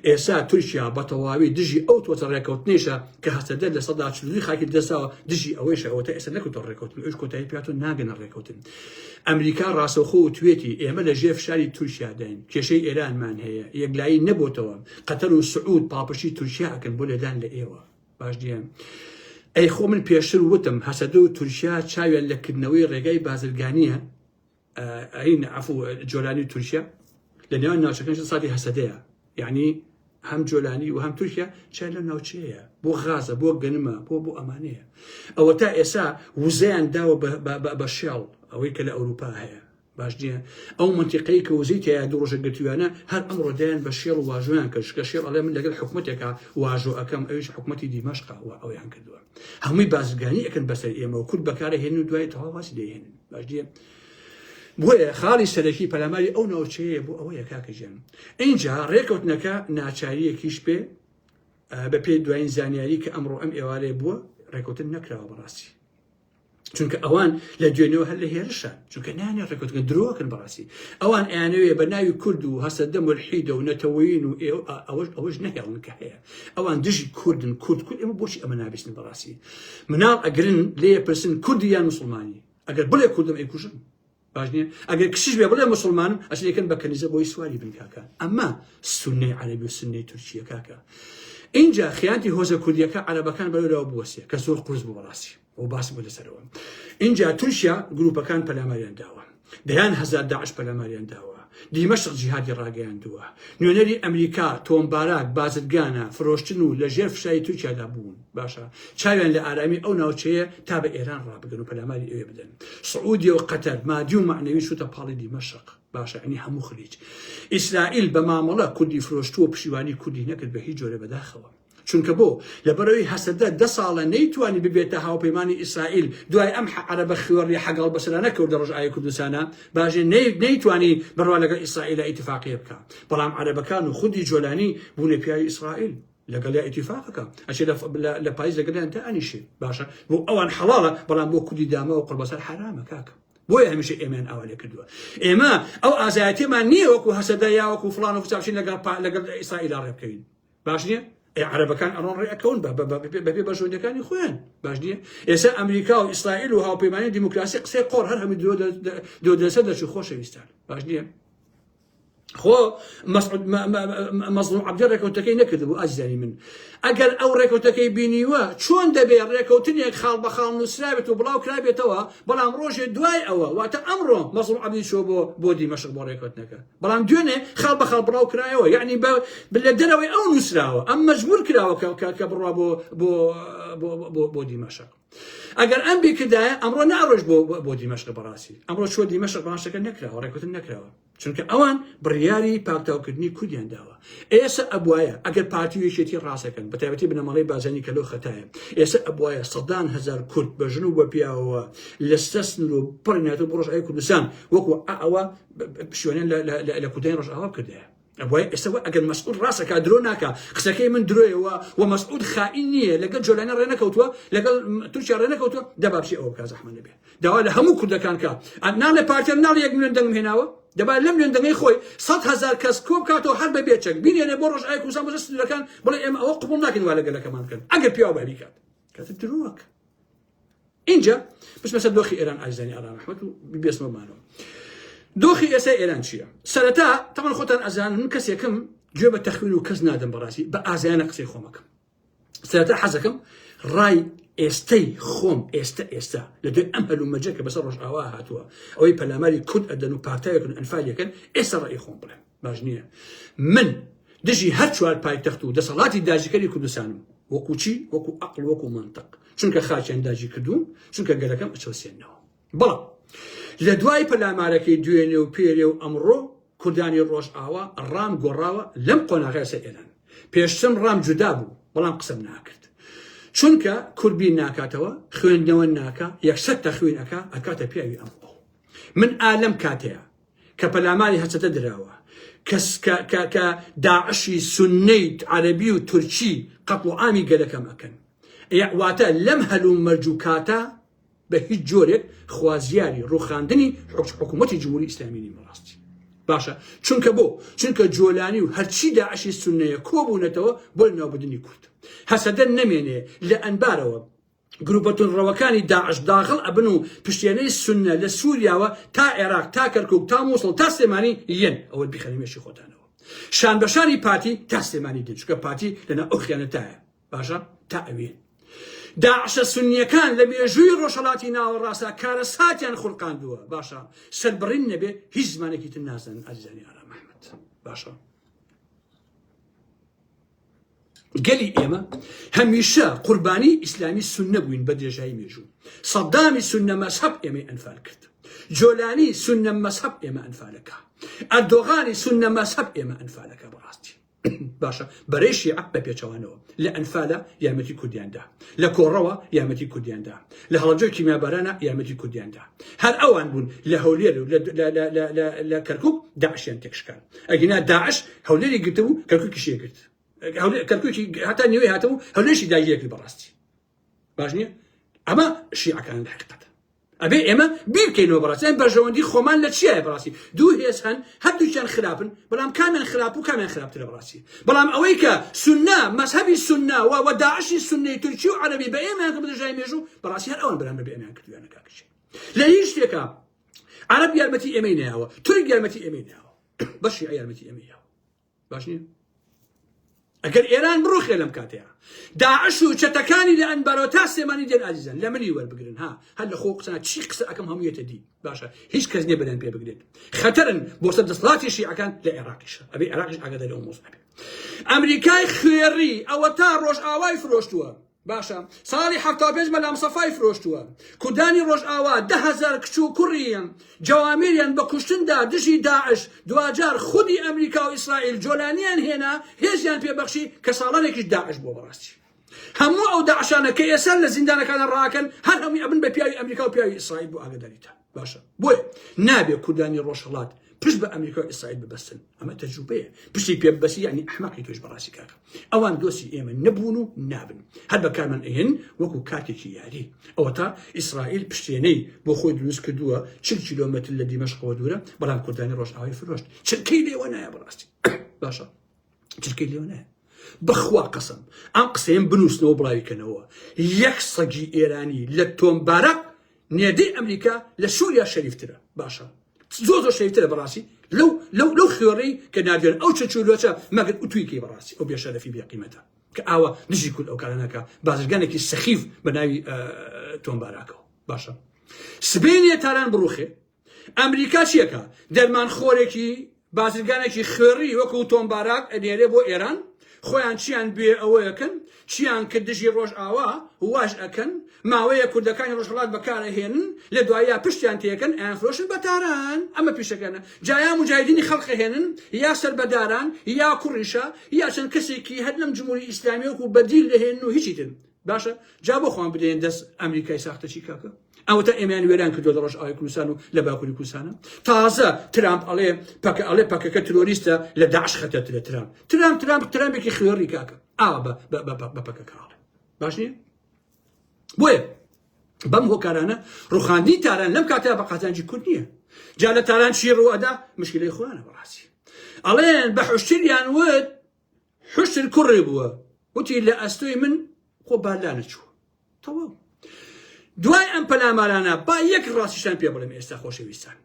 Speaker 1: ئێسا تورکیا بە تەواوی دژی ئەو تۆتە ڕێکەوتنێشە کە هەسەدە لە سەدا چلوی خاکی دەساوە دژی ئەوەیشەوەتە ئێستا نەکوتۆ ڕێکەوتن ئەوش کۆتایی پیاتۆ ناگەنە ڕێکەوتن ئەمریکا ڕاستەوخۆ وتوێتی، ئێمە لە ژێر فشاری تورکیاداین، کێشەی ئێرانمان هەیە، یەکلایی نەبۆتەوە، قەتەر و سعود پاڵپشتی تورکیا ئەکەن بۆ لێدان لە ئێوە. باش نییە. ئەی خۆ من پێشتر وتم هەسەدە و تورکیا چاویان لە کردنەوەی ڕێگای بازرگانیە ئەین عفو جۆلانی و تورکیا لە نێوان ناوچەکان ساتی هەسەدەیە یعنی هەم جۆلانی و هەم تورکیا چای لە ناوچەیە بۆ غازە بۆ گەنمە بۆ بۆ ئەمانەیە ئەوە تا ئێسا وزیان داوە بە شێڵ ئەوەی کە لە ئەوروپا هەیە باش نییە ئەو منتیقەی کە وزی تیا دۆژە گرتوانە هەر ئەم ڕۆدایان بە شێڵ واژویان کرد کە شێڵ ئەڵێ من لەگەر حکوومەتێکە واژۆ ئەەکەم ئەوش حکوومەتی دیمەشقا و ئەویان کردووە هەمووی بازرگانی ئەەکەن بەسەر ئێمە و کورد بەکارە هێن و دوای تەواواسی دەهێنن باش دیە بۆیە خاڵی سەرەکی پەلاماری ئەو ناوچەیە بۆ ئەوەیە کاکە گیان ئینجا ڕێکەوتنەکە ناچاریەکیش پێ بە پێی دوایین زانیاری کە ئەمڕۆ ئەم ئێوارەیە بووە ڕێکوتن نەکراوە بەڕاستی چونکە ئەوان لە دوێنەوە هەر لە هێرشە چونکە نانێ ڕێکوتگە درۆکن بەڕاستی ئەوان ئەیانەوێ بە ناوی کورد و هەسە دەم و حیدە و نەتەوەین و ئەوەش ئەوەش نەهێڵن کە هەیە ئەوان دژی کوردن کورد کورد ئەمە بۆچی ئەمە نابستن بەڕاستی مناڵ ئەگرن لێ پرسن کوردی یان مسلمانی ئەگەر بڵێ کوردم ئەیکوژن باش نییە ئەگەر کشیش بێ بڵێ مسلمانم ئەشن یەکەن بە کەنیزە بۆی سواری بن کاکە ئەمە سنەی عەربی و سنەی تورکیە کاکە اینجا خیانتی هۆزە کوردیەکە عەرەبەکان بەرەوە بوەسێ کە زۆر قرس بوو بەڕاستی و باس بۆ دەسەرەوە اینجا تورکیا گروپەکان پەلاماریان داوە دەیان هەزار داعش پەلاماریان داوە دیمەشق جیهادی ڕاگەیاندووە نوێنەری ئەمریکا تۆمبارات بازرگانە فرۆشتن و لەژێر فشاری تورکیادا بوون باشە چاویان لە ئارامی ئەو ناوچەیە تا بە ئێران ڕابگەن و پەلاماری ئەوێ بدەن سعودی و قەتەر مادی و معنەوی شوتە پاڵی دیمەشق باشە ئەنی هەموو خلیج ئیسرائیل بە مامەڵە کوردی فرۆشتووە و پشیوانی کوردی نەکرد بە هیچ جۆرە بەداخەوە چونکە بۆ لەبەرەوەی هەسەدە دە ساڵە نەیتوانی ببێتە هاوپەیمانی ئیسرائیل دوای ئەم عەرەبە خوێڕی حەگەڵ بەسەرانە کەوتە ڕۆژئاوی کوردستانە باژێ نەیتوانی بڕوا لەگەڵ ئیسرائیلە ئیتفاقیە بکە بەڵام عەرەبەکان و خودی جۆلانی بوونە پیاوی ئیسرائیل لەگەڵیا ئیتیفاقەکە ئەچێ لە پایز لەگەڵیان تا ئەنیشێ باشە بۆ ئەوان حەڵاڵە بەڵام بۆ کوردی داماوە قڕبەسەر حرامە کاکە بۆیە هەمیشە ئێمەیان ئاوا لێ کردووە ئێمە ئەو ئازایەتێمان نییە وەکو هەسەدا یاوەکو فلان و فچاوشین لەگەڵ لەگەڵ ئیسرائیل ڕێ بکەین باش نییە ئێ عربەکان ئەڕۆن ڕێکەون بەپێ بەژۆندەکانی خۆیان باش نییە ئێستا ئەمریکا و ئیسرائیل و هاوپەیمانی دیموکراسی قسەی قۆڕ هەر هەمی درۆ دەسە دەچوو خۆشەویستان باش نییە خۆ مەزڵوم عەبدی ڕێکەوتەکەی نەکردبوو ئازیزانی من ئەگەر ئەو ڕێکەوتەکەی بینیوە چۆن دەبێ ڕێکەوتنێک خاڵ بە خاڵ نووسراوێت و بڵاو کرابێتەوە بەڵام ڕۆژێ دوای ئەوە واتە ئەمڕۆ مەزڵوم عەبدی چۆ بۆ بۆ دیمەشق بۆ ڕێکەوتنەکە بەڵام دوێنێ خاڵ بە خاڵ بڵاو کرایەوە یعنی بە لە دەرەوەی ئەو نووسراوە ئەم مەجبور کراوە کە بڕوا بۆ بۆ بۆ دیمەشق ئەگەر ئەم بیکردایە ئەمڕۆ ناڕۆژ بۆ بۆ دیمەشق بەڕاستی ئەمڕۆ چۆ دیمەشق باشەکە نەکراوە ڕێکوتن نەکراوە چونکە ئەوان بڕیاری پاکتاوکردنی کوردیان داوە ئێستا ئەبواە ئەگەر پارتی و یەکێتی ڕاستەکەن بە تایبەتی بنەمەڵی بازانی کەلو خەتایە ئێستا ئەبواە سەدان هزار کورد بە ژن و بە پیاوەوە لەستە سنور و پڕناتە بڕۆژ ئەی کوردستان وەکو ئەوە شوێنە لە کوردیان ڕژاوا کردەیە ئەبوای ئێستا وە ئەگەر مەسعود ڕاست ئەکا درۆ ناکا قسەکەی من درۆیە وە وە مەسعود خائین نییە لەگەڵ جۆلانە ڕێ نەکەوتووە لەگەڵ تورکیا ڕێ نەکەوتووە دە با بچی ئەوە بکا زەحمەت نەبێ داوا لە هەموو کوردەکان کا ناڵێ پارتیە ناڵێ یەک ملیۆن دەنگم هێناوە دەبا لەم ملیۆن دەنگەی خۆی سەد هەزار کەس کۆ بکاتەوە هەر بە بێچەک بینێرێ بۆ ڕۆژ ئای کوردستان بەجە سنوورەکان بڵێ ئێمە ئەوە قبوڵ ناکەین وا لەگەلەکەمان بکەن ئەگەر پیاو بە بیکات کاتە درۆک ئینجا بچمە سەر دۆخی ئێران ئازیزانی ئارام ئەحمەد و ببێسمە مانەوە دۆخی ئێستا ئێران چییە سەرەتا تەمەن خۆتان ئەزان من کەسێکم گوێ بە تەخوین و کەس نادەم بەڕاستی بە ئازایانە قسەی خۆمەکەم سەرەتا حەزەکەم ڕای ئێستەی خۆم ئێستا ئێستا لە دوێن ئەم هەلومەجە کە بەسەر ڕۆژئاوا هاتووە ئەوەی پەلاماری کورد ئەدەن و پارتایەکن ئەنفالەکەن ئێستا ڕێی خۆم بڵێم باش نییە من دژی هەر چوار پایتەخت و دەسەڵاتی داجیکەری کوردستانم وەکو چی وەکو ئەقل وەکو منطق چونکە خاچیان داجی کردوون چونکە گەلەکەم ئەچەوسێنەوە بەڵام لە دوای پەلامارەکەی دوێنێ و پێرێ و ئەمڕۆ کوردانی ڕۆژ ئاوا ڕام گۆڕاوە لەم قۆناغی سەر ئێران پێشتم ڕام جودا بوو بەڵام قسەم ناکرد چونکە کوربی ناکاتەوە خوێندنەوە ناکە یەکسەر تەخوین ئەکا ئەکاتە پیاوی ئەم من ئالم کاتەیە کە پەلاماری هەچەتە دراوە کە کە کە کە داعشی سونەیت عەرەبی و تورکی قەتڵ و عامی گەلەکەم ئەکەن ئێ واتە لەم هەلوو مەرج و کاتە بە هیچ جۆرێک خوازیاری ڕوخاندنی حکوچ حکوومەتی جمهوری ئیسلامی نیم ڕاستی باشە چونکە بۆ چونکە جۆلانی و هەرچی داعشی سونەیە کۆبوونەتەوە بۆ ناوبدنی کورد هەسەدە نەمێنێ لە ئەنبارەوە گروپە توندڕەوەکانی داعش داخڵ ئەبن و پشتێنەی سوننە لە سوریاوە تا عێراق تا کەرکوک تا موسڵ تا سلێمانی یەن ئەوە بیخەنە مێشی خۆتانەوە شان بەشانی پارتی تا سلێمانی دێن چونکە پارتی لەنا ئەو خیانەتایە باشە تا ئەوێن داعشە سنیەکان لە مێژووی ڕۆژهڵاتی ناوەڕاستە کارەساتیان خورقاندووە باشە سەربڕین نەبێ هیچ زمانێکی تر نازانن ئازیزانی ئارام محمد باشە گەلی ئێمە هەمیشە قوربانی ئیسلامی سنە بووین بە درێژایی مێژوو سەدامی سنە مەسحب ئێمەی ئەنفال کرد جۆلانی سنە مەسحب ئێمە ئەنفالەکە ئەردۆغانی سنە مەسحب ئێمە ئەنفالەکە بەڕاستی باشە بەرەی شیعە بە پێچەوانەوە لە ئەنفالە یارمەتی کوردیاندا لە کۆڕەوە یارمەتی کوردیاندا لە هەڵەبجەی کیمیابارانە یارمەتی کوردیاندا هەر ئەوان بوون لە هەولێر و لە کەرکک داعشیان تێکشکان ئەگینا داعش هەولێری گرتە و کەرکوکیشی ئەگرت کەرکوکی هەتا نوێی هاتە و هەولێرشی داگیرەکرد بەڕاستی باش نییە ئەمە شیعەکان لە حقیقەت ئەبێ ئێمە بیرکەینەوە بەڕاستیان بەرژەوەندی خۆمان لە چیایە بەڕاستی دوو هێز هەن هەردووچیان خراپن بەڵام کامیان خراپ و کامیان خراپترە بەڕاستی بەڵام ئەوەی کە سنە مەسەبی سنە و وەداعشی سنەی تورکی و عەربی بە ئێمەیان کە بدەژای مێژوو بەڕاستی هەر ئەوان بەرامبەر بە ئێمەیان کردویانە کاکەشی لە هیچ شتێکە عەرەب یارمەتی ئێمەی نەیاوە تورک یارمەتی ئێمەی نەیاوە بە شیعە یارمەتی ئێمەی یاوە باش نییە ئەگەر ئێران بڕوخێ لەم کاتەیە داعش و چەتەکانی لە ئەنبارۆ تا سێمانی دێن ئازیزن لە منی وەربگرن ها هەر لە خۆ قسە چی قسە ئەەکەم هەموویەتە دی باشە هیچ کەس نیە بەدەن پێ بگرێت خەتەرن بۆ سەر دەسڵاتی شیعەکان لە عێراقیشە ئەبێ عێراقیش ئاگاداری ئەو مۆزە ئەمریکای خوێڕی ئەوە تا ڕۆژ ئاوای فرۆشتووە باشە ساڵی حەفتا و پێنج مەلام سەفای فرۆشتووە کوردانی ڕۆژئاوا دە هەزار کچ و کوڕیان جەوامیریان بە کوشتندا دژی داعش دواجار خودی ئەمریکا و ئیسرائیل جۆلانیان هێنا هێزیان پێبەخشی کە ساڵانێکیش داعش بۆ بەڕاستی هەموو ئەو داعشانە کە ئێستا لە زیندانەکانە ڕاکەن هەر هەمووی ئەبن بە پیاوی ئەمریکا و پیاوی ئیسرائیل بۆ ئاگداریتان باشە بۆیە نابێ کوردانی ڕۆژهڵات پشت بە ئەمریکا و ئیسرائیل ببەستن ئەمە تەجروبەیە پشتی پێ بەسی ینی ئەحمەقی توش بەڕاستی کاکە ئەوان دۆسی ئێمە نەبوون و نابن هەر بەکارمان ئەهێن وەکو کاتێکی یاری ئەوە تا ئیسرائیل پشتێنەی بۆ خۆی دروست کردووە چ کیلۆمەتر لە دیمەشقەوە دوورە بەڵام کوردانی ڕۆژناوی فرۆشت چرکەی لێوە نایە بەڕاستی باشە چرکەی لێو نایە بەخوا قەسم ئەم قسەیەم بنووسنەوە بڵاوی کەنەوە یەک سەگی ئێرانی لە تۆمبارە نێدەی ئەمریکا لە سووریا شەریفترە باشە زۆ زۆ شەریفترە بەڕاستی لەو لەو لەو خوێڕی کە نادوێن ئەو چەچولۆچە مەگەر ئوتویکی بەڕاستی ئەو بێشەرەفی بێقیمەتە کە ئاوا دژی کول ئەو کارانەکە بازرگانێکی سەخیف بە ناوی تۆمباراکەەوە باشە سبینێ تاران بڕوخێ ئەمریکا چیەکا؟ دەرمان خۆرێکی بازرگانێکی خوێڕی وەکو تۆم باراک ئەنێرێ بۆ ئێران خۆیان چیان بوێ ئەوەکەن چیان کرد دژی ڕۆژ ئاوا واش ئەکەن ماوەیە کوردەکانی ڕۆژهەڵات بەکارە هێنن لە دوایە پشتیان تێکەن ئەیان فرۆشن بە تاران ئەمە پیشەکەنە جایا مجاهدینی خەڵقە هێنن یا سەر بەداران یا کوڕیشە یا چەند کەسێکی هەر لەم جمهوری ئیسلامیەک و بەدیل دەهێن و هیچی تر باشە جا بۆ خۆم بدەین دەست ئەمریکای ساختەچی کاکە ئەوەتا ئێمەیان وێران کردوە لە ڕۆژئاوای کوردستان و لە باکووری کوردستانە تازە ترامپ ئەڵێ پەکە ئەڵێ پەکەکە ترۆریستە لە داعش خەتەترە ترامپ ترامپ ترامپ ترامپێکی خوێڕی کاکە ئا بە بە- بە- بە- بە پەکەکە ئەڵێ باش نییە بۆیە بەم هۆکارانە ڕوخاندی تاران لەم کاتە بە قازانجی کورد نییە جا لە تاران چی ڕوەدا مشکلەی خۆیانە بەڕاستی ئەڵێن بە حشتریان وت حوشتر کوڕێ بووە وتی لە ئەستۆی من خۆ با لا نەچووە تەواو دوای ئەم پەلامارانە با یەک ڕاستیشان پێ بڵێم ئێستا خۆشەویستان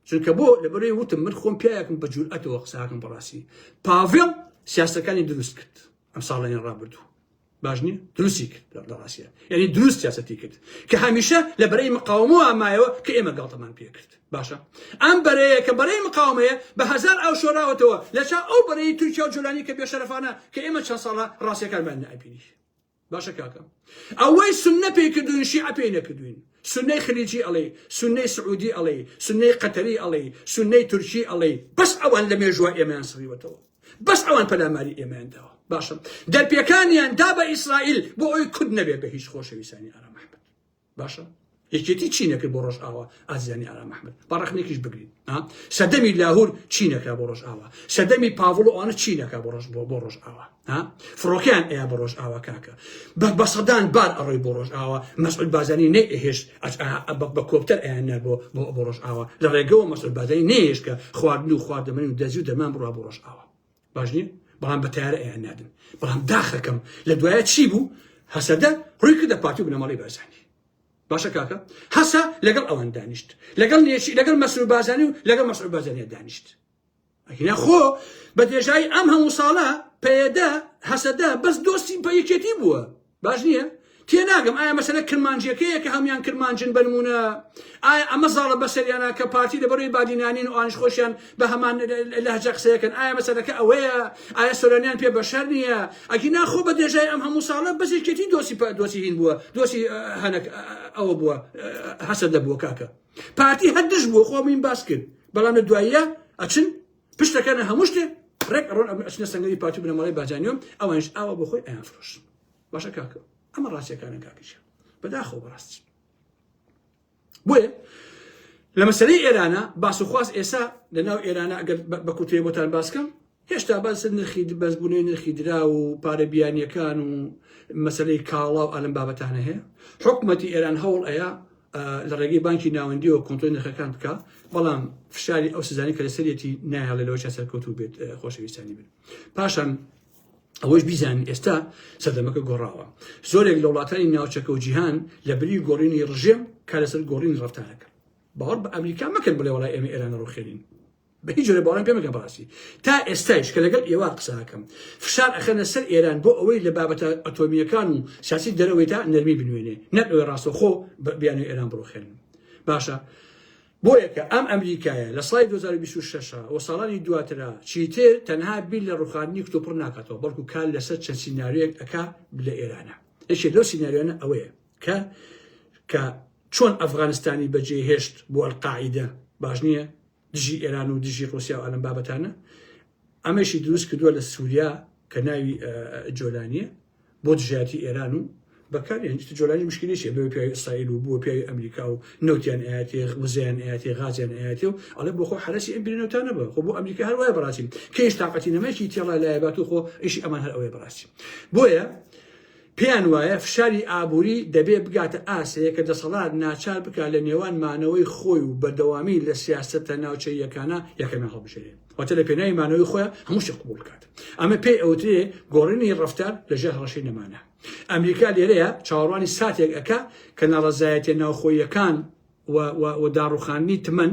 Speaker 1: چونکە بۆ لەبەروی وتم من خۆم پیاکم بە جورئەتەوە قساکم بەڕاستی پاڤڵ سیاسەکانی دروست کرد ئەم ساڵێنی ڕابردوو باش نیە دروستی کرد لە ڕاستە یعنی دروست سیاسەتی کرد کە هەمیشە لە بەرەی مقاومەوە ئامایەوە کە ئێمە گاڵتەمان پێ کرد باشە ئەم بەرەیە کە بەرەی مقاومەیە بە هزار ئەو شۆراوەتەوە لە چا ئەو بەرەی تورکیا و جولانی کە بێشەرفانە کە ئێمە چەند ساڵە ڕاستەکانمان نابینی باشە کاکە ئەوەی سنە پێی کردوین شیع پێی نەکردوین سنەی خلیجی ئەڵێ سنەی سعودی ئەڵێ سنەی قەتەری ئەڵێ سنەی تورکی ئەڵێ بەس ئەوان لە مێژوە ئێمەیان سڕیوەتەوە بەس ئەوان پەلاماری ئێمەیان داوە باشە دەرپێکانیان دا بە ئیسرائیل بۆ ئەوی کورد نەبێت بە هیچ خۆشەویستانی ئارام محمد باشە یەکێتی چی نەکرد بۆ ڕۆژ ئاوا ئازیانی ئارام محمد بەڕخنێکیش بگرین سەدەمی لاهور چی نەکرا بۆ ڕۆژ ئاوا سەدەمی پاڤڵ و ئەوانە چی نەکا بۆ ڕۆژ بۆ بۆ ڕۆژ ئاوا فڕۆکیان ئەیا بە ڕۆژ ئاوا کاکە بە بەسەدان بار ئەڕۆی بۆ ڕۆژ ئاوا مەسعود بازانی نەیهێشت بە کۆپتەر ئەیاننا بۆ بۆ ڕۆژئاوا لە ڕێگەوە مەسەر بادەی نێش کە خواردن و خواردەمەنی و دەزی و دەمان بڕا بۆ ڕۆژئاوا باش نیە بەڵام بە تارە ئەیان نادن بەڵام داخەکەم لە دوایە چی بوو هەسەدە ڕووی کردە پارتی و بنەماڵی بەرزانی باشە کاکە هەسە لەگەڵ ئەوان دانیشت لەگەڵ نێشی لەگەڵ مەسرور بازانی و لەگەڵ مەسرور بازانە دانیشت ئەگینا خۆ بە درێژایی ئەم هەموو ساڵە پەیەدە هەسەدە بەس دۆستی بە یەکێتی بووە باش نییە تێناگەم ئایا مەسەلە کرمانجیەکەیە کە هەموان کرمانجن بنمونە ئایا ئەمە زاڵە بەسەریانە کە پارتی لە بەروی بادینانین و ئاش خۆشیان بە هەمان لەهجە قسەیەکەن ئایا مەسەلەکە ئەوەیە ئایا سۆرانیان پێ بەشەر نییە ئەگی ناخۆ بە درێژای ئەم هەموو ساڵە بەزیکێتی دۆسی دۆسی هین بووە دۆسی هەنک ئەوە بووە هەسەدە بووە کاکە پارتی هەر دژ بووە خۆ بووین باس کرد بەڵام لە دواییە ئەچن پشت دەکەنە هەموو شتێ ڕێک ئەڕۆن ئەم ئەچنە سەنگەری پارتی بنەماڵەی بارزانیۆم ئەوانش ئاوا بۆ خۆی ئەیان فرۆش باشە کاکە ئەمە ڕاستیەکانە کاکیشە بەداخەوە بەڕاستی بۆیە لە مەسلەی ئێرانە باسوخواست ئێسا لە ناو ئێرانە ئەگەر بە کوتێ بۆتان باسکەم هێشتا باس نرخی بەرزبوونەوەی نرخی دراو و پارە بیانییەکان و مەسەلەی کاڵا و ئالەم بابەتانە هەیە حکومەتی ئێران هەوڵ ئەیا لە ڕێگەی بانکی ناوەندیەوە کۆنتۆی نرخەکان بکە بەڵام فشاری ئەو سزانانی کە لەسەرەتی نایڵێ لەەوە چا سەرکەوتو بێت خۆشەویستانی بن پاشان ئەوەش بیزانین ئێستا سەردەمەکە گۆڕاوە زۆرێک لە وڵاتانی ناوچەکە و جیهان لە بری گۆڕینی ڕژێم کارەسەر گۆڕین ڕفتارەکە باوەڕ بە ئەمریکا مەکەن بڵێ وڵای ئێمە ئێران ڕوخێنین بە هیچ جۆرە باوەڕم پێ مەکە بەڕاستی تا ئێستایش کە لەگەڵ ئێوە قسە ئەکەم فشار ئەخەنە سەر ئێران بۆ ئەوەی لە بابەتە ئەتۆمییەکان و سیاسی دەرەوەی تا نەرمی بنوێنێ نەک ئەوێ ڕاستەخۆ بیانوی ئێران بڕوخێنن باشە بۆ یەکە ئەم ئەمریکایە لە سای 2026 و ساڵانی دواترا چیتر تەنها بیر لە ڕوخاندنی کتۆپڕ ناکاتەوە بەڵکو کار لەسەر چەند سینناریۆیەک ئەکا لە ئێرانە یەکێ لەو سینناریۆنە ئەوەیە کە کە چۆن ئەفغانستانی بەجێ هێشت بۆ ئەلقاعیدە باش نییە دژی ئێران و دژی ڕوسیا و ئەلم بابەتانە ئەمەشی دروست کردووە لە سووریا کە ناوی جۆلانیە بۆ دژایەتی ئێران و بەکار هێنجت جۆلانی مشکلیشە بە پیاوی ئیسرائیل و بۆ پیاوی ئەمریکا و نەوتیان ئاەتێ وزیان ئاەتێ غازیان ئاەتێ و ئەڵێ بۆ خۆ حرەسی ئەم بینەوتانە بە خۆ بۆ ئەمریکا هەر وای بڕاستیم کەیش تااقەتی نەمەکی تێڵا لایبات و خۆ ئیشی ئەمان هەر ئەوەی بڕاستی بۆیە پێیان وایە فشاری ئابووری دەبێ بگاتە ئاستێک کە دەسەڵات ناچار بکات لە نێوان مانەوەی خۆی و بەردەوامی لە سیاسەتە ناوچەییەکانە یەکەمیان هەڵبژێرێ واتە لە پێناوی مانەوەی خۆیان هەموو شتێک قبوڵ بکات ئەمە پێی ئەوترێ گۆڕینی ڕەفتار لە ژێر هەڕەشەی نەمانە ئەمریکا لێرەیە چاوەڕوانی ساتێک ئەکا کە ناڕەزایەتیە ناوخۆییەکان و داڕوخاندنی تمەن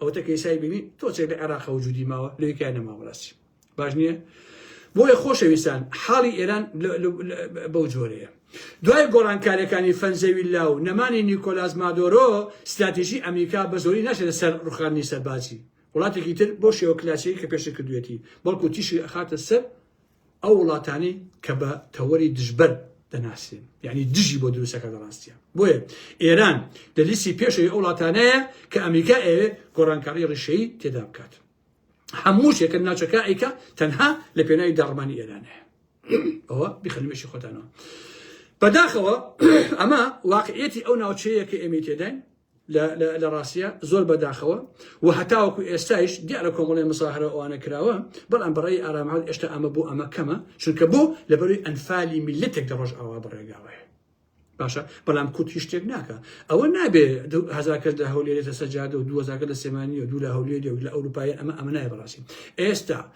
Speaker 1: ئەوەتە کەیسای بینی تۆ چێ لە عێراق و جودی ماوە لەوی کای نەما بەڕاستی باش نییە بۆیە خۆشەویستان حاڵی ئێران بەو جۆرەیە دوای گۆڕانکاریەکانی فەنزەویلا و نەمانی نیکۆلاس مادۆرۆ استراتیژی ئەمریکا بە زۆری ناشێتە سەر ڕوخانی سەربازی وڵاتێکی تر بۆ شێوە کلاسیەکە پێشە کردوێتی بەڵکو تیشی ئەخاتە سەر ئەو وڵاتانەی کە بە تەوەری دژبەر دەناسرێن یعنی دژی بۆ دروستەکە دەڕاستیان بۆیە ئێران لە لیستی پێشەوەی ئەو وڵاتانەیە کە ئەمریکا ئەوێ گۆڕانکاری ڕیشەی تێدا بکات هەموو شێکە ناچەکە ئەیکە تەنها لە پێناوی داڕمانی ئێرانەیە ئەوە بخەنمێکی خۆتانەوە بەداخەوە ئەمە واقعەتی ئەو ناوچەیە کە ئێمە تێداین لە ڕاستیە زۆر بەداخەوە و هەتاوەکو ئێستایش دیارە کۆمەڵی مساهرە ئەوانە کراوە بەڵام بەڕێی ئارامهاات ئێشتا ئەمە بۆ ئەمە کەمە چونکە بۆ لە بەروی ئەنفالی میلەتێک دە ڕۆژ ئاوا بەڕێگاوەیە باشە بەڵام کورد هیچ شتێک ناکە ئەوە نابێ هزارکە لە هەولێرێتە سەجادە و دوزارکە لە سێمانانی و دوو لە هەولێری و لە ئەوروپای ئەمە ئەمە نای بەڕاستی ئێستا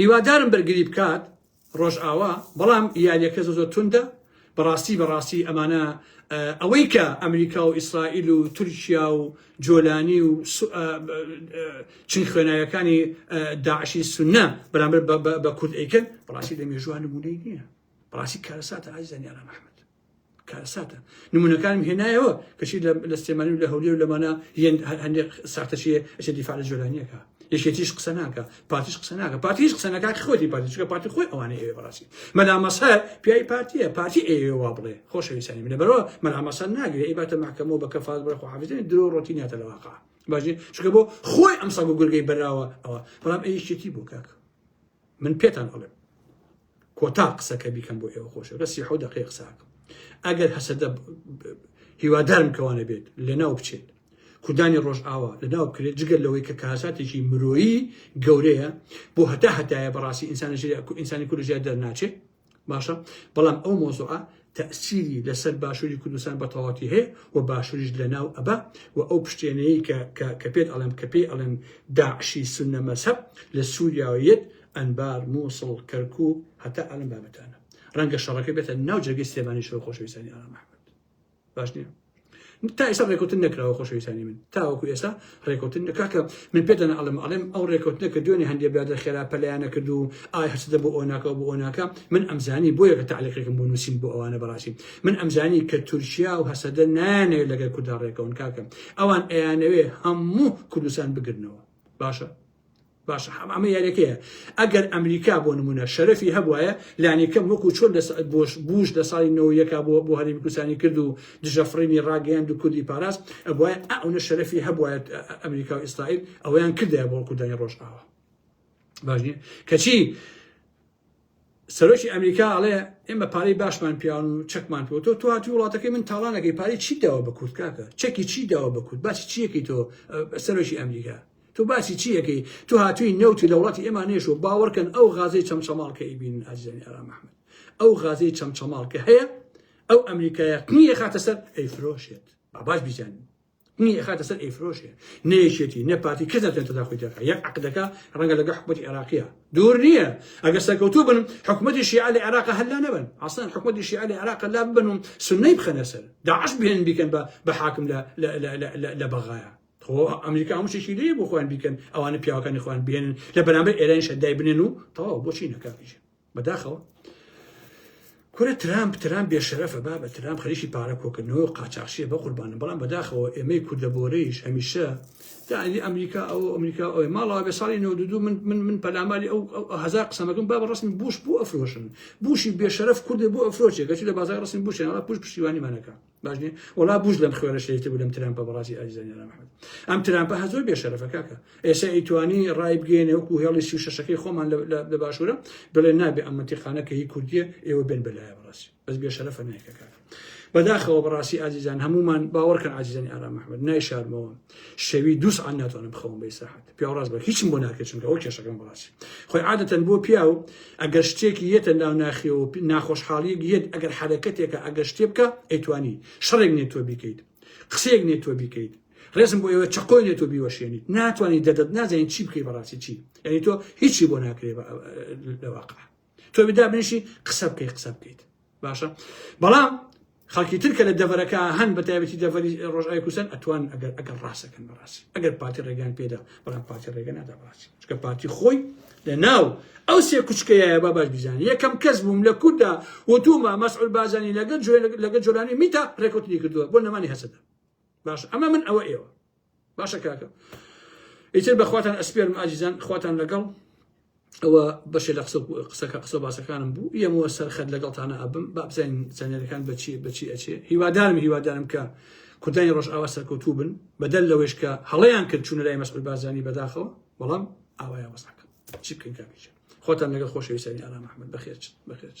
Speaker 1: هیوادارم بەرگری بکات ڕۆژئاوا بەڵام یاریەکە زۆ زۆر توندە بەڕاستی بەڕاستی ئەمانە ئەوەی کە ئەمریکا و ئیسرائیل و تورکیا و جۆلانی و چین خوێناوەکانی داعشی سنە بەرامبەر بە کورد ئەیکەن بەڕاستی لە مێژوان نمونەی نییە بەڕاستی کارەساتە ئازیزان یاران ئەحمد کارەساتە نمونونەکانم هێنایەوە کەچی لە سلێمانی و لە هەولێ و لەمانە هەندێک ساختەچیە ئەچێت دیفاع لە جۆلانیەکە یەکێتیش قسە ناکە پارتیش قسە ناکە پارتیش قسە ناکە خۆتی پارتی چکە پارتی خۆی ئەوانە ئێوە بەڕاستی مەلامەسەر پیای پارتیە پارتی ئێوە بڵێ خۆشەویستانی منە بەرەوە مەلامەسەر ناگرێ ئی باتە محکەمەوە بە کەفاز بڕە خۆحافزێن درۆ ڕۆتی ناتە لە واقع باشێ چکە بۆ خۆی ئەم سەگ و گورگەی بەراوە ئەوە بەڵام ئەیشێتی بۆ کاکە من پێتان ئەڵێم کۆتا قسەکە بیکەم بۆ ئێوە خۆشە لە سی حەوت دەقەیە قساکەم ئەگەر هەسەدە هیوادارم کەوانە بێت لەناو بچێت کوردانی ڕۆژئاوا لەناو بکرێت جگەل لەوەی کە کاساتێکی مرۆیی گەورەیە بۆ هەتا هەتایە بەڕاستی ئینسانە ژێر ئینسانی کورد ژێر دەرناچێت باشە بەڵام ئەو مۆزوعە تەسیری لەسەر باشووری کوردستان بە تەواتی هەیە و باشووریش لە ناو ئەبا و ئەو پشتێنەیە کە کە پێت ئەڵم کە پێی ئەڵێن داعشی سنە مەسەب لە سووریاویت ئەنبار مووسڵ کەرکو هەتا ئەلم بابەتانە ڕەنگە شەڕەکە بێتە ناو جێگەی سێمانی شەو خۆشەویستانی ئارام ئەحمد باش نییە تا ئێستا ڕێکوتن نەکراوە خۆشەویستانی من تاوەکو ئێستا ڕێکوتن نەکاکە من پێدەن ئەڵم ئەڵێم ئەو ڕێکوتنە کە دوێنێ هەندێک برادە خێرا پەلیانە کرد و ئای هەرچدە بۆ ئۆناکە بۆ ئۆناکە من ئەمزانی بۆ یەکە تعلقێکم بۆ نووسین بۆ ئەوانە بەڕاستی من ئەمزانی کە تورکیا و هەسەدە نانەوێت لەگەر کودا ڕێکەون کاکەم ئەوان ئەیانەوێ هەموو کوردستان بگرنەوە باشە باشە حەمە ئەمە یاریەکەیە ئەگەر ئەمریکا بۆ نمونە شەرەفی هەبواە لانیکەم وەکو چۆن بۆش بوش لە ساڵی نەوەیەکە بۆ بۆ هەرمی کوردستانی کرد و دژەفڕینی ڕاگەیان دو کوردی پاراست ئەبواە ئەونە شەرەفی هەبواە ئەمریکا و ئیسرائیل ئەویان کردە بۆ کوردانی ڕۆژئاوە باش نیە کەچی سەرۆکی ئەمریکا ئەڵێ ئێمە پارەی باشمان پیاون و چەکمان پێوە تۆ تۆ هاتی وڵاتەکەی من تاڵانەکەی پارەی چی داوە بە کورد کاکە چەکی چی داوە بە کورد باسی چیەکەی تۆ سەرۆکی ئەمریکا تۆ باسی چیەکەی تۆ هاتووی نەوتی لە وڵاتی ئێمە نێشوە باوەڕکەن ئەو غازەی چەمچەماڵکە ئیبین ئازیزانی ئارام محمد ئەو غازەی چەمچەماڵکە هەیە ئەو ئەمریکایە قنیە خاتە سەر ئەی فرۆشێت باباش بیزانین نی ئەخاتە سەر ئەیفرۆشێ نە یەکێتی نە پارتی کەس ناتوانێت تەداخوی تێکا یەک عەقدەکە ڕەنگە لەگە حکومەتی عێراقیە دوور نییە ئەگەر سەرکەوتوو بن حکومەتی شیعە لە عێراقە هەلا نەبن ئەسڵەن حکومەتی شیعە لە عێراقە لا ببن و سنەی بخەنە سەر داعش بێن بیکەن بە بە حاکم لە لە بەغایە خۆ ئەمریکا هەموو شتێکی لێ بۆ خۆیان بیکەن ئەوانە پیاوەکانی خۆیان بێنن لە بەرامبەر ئێرانی شەدای بنێن و تەواو بۆچی نەکاتیژە بەداخەوە کورە ترامپ ترام بێشەرەفە بابە ترام خەریکی پارە کۆکردنەوە قاچاخشیە بە قوربانە بەڵام بەداخەوە ئێمەی کوردە بۆرەیش هەمیشە دانی ئەمریکا ئەو ئەمریکا ئەوی ماڵا بێ ساڵی نەودو من من من پەلاماری ئەو هزار قسەمەکەم با بە ڕسمی بوش بۆ ئەفرۆشن بوشی بێشەرف کوردە بۆ ئەفرۆچێک گەچی لە بازار ڕسمی بوشێنەوە پوش پشتیوانیمانەکە باش نیە وەڵا بوش لەم خوێنە شەیتر بوو لەم ترامپە بەڕاستی ئازیزە نێران محمد ئەم ترامپە هە زۆر بێ شەرەفە کاکە ئێستا ئیتوانی ڕای بگەێنێ وەکو هێڵی سی و شەشەکەی خۆمان لە باشوورە بڵێ نابێ ئەم منتیقانە کە هی کوردیە ئێوە بێن بەلایە بەڕاستی بەس بێ شەرەفە نایکە کاکە بەداخەوە بەڕاستی ئازیزان هەمومان باوەڕکەن ئازیزانی ئارام محمد نایشارمەوە شەوی دووس عن ناتوانم بخەوم بە ئیسراحەت پیاو ڕاست بەر هیچم بۆ ناکرێت چونکە ئەو کێشەکەم بەڕاستی خۆی عادەتەن بۆ پیاو ئەگەر شتێکی یەتە ناو ناخیەوە ناخۆشحاڵیەک یەت ئەگەر حرەکەتێکە ئەگەر شتێ بکە ئەیتوانی شەڕێک نێت تۆ بیکەیت قسەیەک نێت تۆ بیکەیت ڕێزم بۆ ئێوە چقۆی نێت و بیوەشێنیت ناتوانانی دەدەت نازانین چی بکەی بەڕاستی چی یعنی تۆ هیچی بۆ ناکرێ لەواقع تۆ بدا بنیشی قسە بکەیت قسە بکەیت باشە بەڵام خەڵکی ترکە لە دەڤەرەکە هەن بە تایبەتی دەڤەری ڕۆژای کوسەر ئەتوان ئەگەر ئەگەر ڕاستەکەن بەڕاستی ئەگەر پارتی ڕێگەیان پێدا بەڵام پارتی ڕێگە نادا بڕاستی چکە پارتی خۆی لە ناو ئەو سێ کوچکەیە با باش بیزانانی یەکەم کەس بووم لە کووردا وتومە مەسعول بازانی لەگەر جوێ لەگە جۆرانی میتا ڕێکوتنی کردووە بۆ نەمانی هەسەدە باش ئەمە من ئەوە ئێوە باشە کاکە ئیتر بەخواتان ئەسپێرم ئازیزان خواتان لەگەڵ ئەوە بەشێ لە قسە قسەکە قسە باسەکانم بوو یەمەوە سەرخەت لەگەڵتانە ئەبم بابزین چەنێرەکان بەچی بەچی ئەچێ هیوادارم هیوادارم کە کوردانی ڕۆژئاوا سەرکەوتوو بن بەدەل لەوەش کە هەڵیان کرد چوونە لای مەسعود بازانی بەداخەوە بەڵام ئاوایە وەسەکە چی بکەین کاکیچ خۆتان لەگە خۆشەویستانی ئارام ئەحمد بەخێرچ بەخێرچ